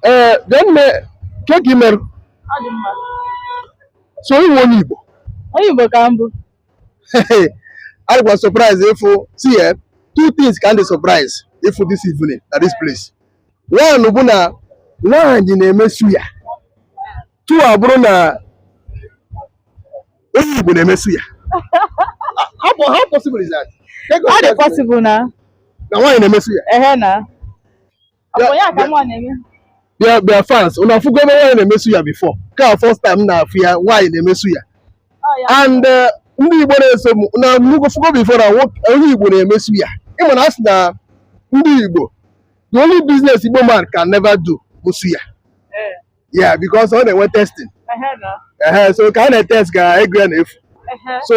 ee bịa nne ke ka ị mere so ị wụ onye igbo Onye Igbo ka m bụ. adịkwa m surprise ịfụ see eh, two things ka m dị surprise ịfụ this evening na this place one bụ na nwaanyị na-eme suya two abụrụ na onye igbo na-eme suya how po- how possible is that Ọ dị possible na na nwaanyị na-eme suya ehe na bịa bịa fans ụnụ afụgo ebe nwaanyị na-eme suya before ka first time na-afụ ya nwaanyị na-eme suya and uh, ndị Igbo na-eso m na nnukwu fụgo before na onye Igbo na-eme suya ị ma na a sị na ndị Igbo the only business Igbo man can never do bụ suya eh. yeah because ọ na-enwe testing so ka a na-etest ka ego ya na-efu so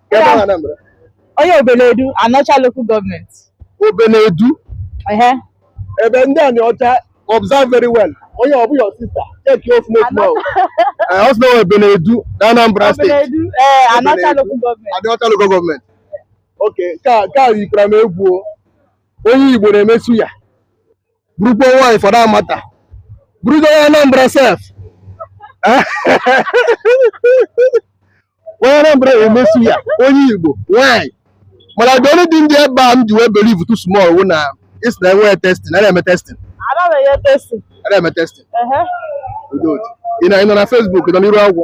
Ebe ahụ Anambra. onye Obeledu Anaocha local government Obeledu. ehe Ebe ndị Anaocha observe very well. Onye ọ bụ your sister. Checkie ọfụma ọfụma. o. Eh, Ọ sị na ọ Obeledu na Anambra State. Obeledu ee Anaocha Obeledu. local government Anaocha local government. Okay, ka ka yikwara m egwu o. Onye Igbo na-eme suya. bụrụkwa nwaanyị for that matter bụrụgo onye Anambra sef nwaanyị Anambra na-eme suya onye Igbo nwaanyị mana the only thing dị ebe a m ji wee believetụ small wụ na ị sị na enweghị testing a na-eme testing a na-eme testing ị na- ị nọ na Facebook ị nọ n'iru agwọ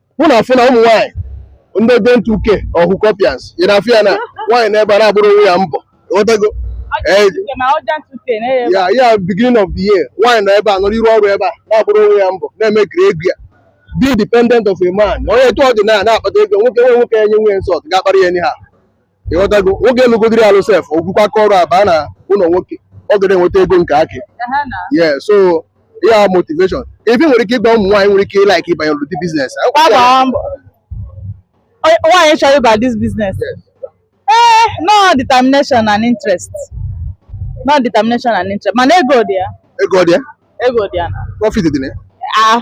ụnụ na-afụ na ụmụ nwaanyị ndị urgent 2k or hookupers ị na-afụ ya na nwaanyị nọ ebe a na-agbụrụ onwe ya mbọ ị ghọtago Ee, ya ya beginning of the year nwaanyị nọ ebe a nọrọ iru ọrụ ebe a na-agbụrụ onwe ya mbọ na-emakeri ego ya be independent of a man o nwe etu ọ dị na ya na-akpata ego nwoke nwe nwoke ya nye nwunye insult ga-akparị ya anyhow ị ghọtago nwoke alụgodiri alụ sef o bukwa aka ọrụ abaa n'ụlọ nwoke ọ ga na-enweta ego nke aka ya yeah so ya motivation ebe nwere ike ịgba ụmụ nwaanyị nwere ike ịlike ịbanye n'ụdị business nwaanyị chọrọ ịba this business ee eh, na ọ determination and interest na ọ determination and interest mana ego dị ya ego dị ya ego dị ya profit dị na ya ah.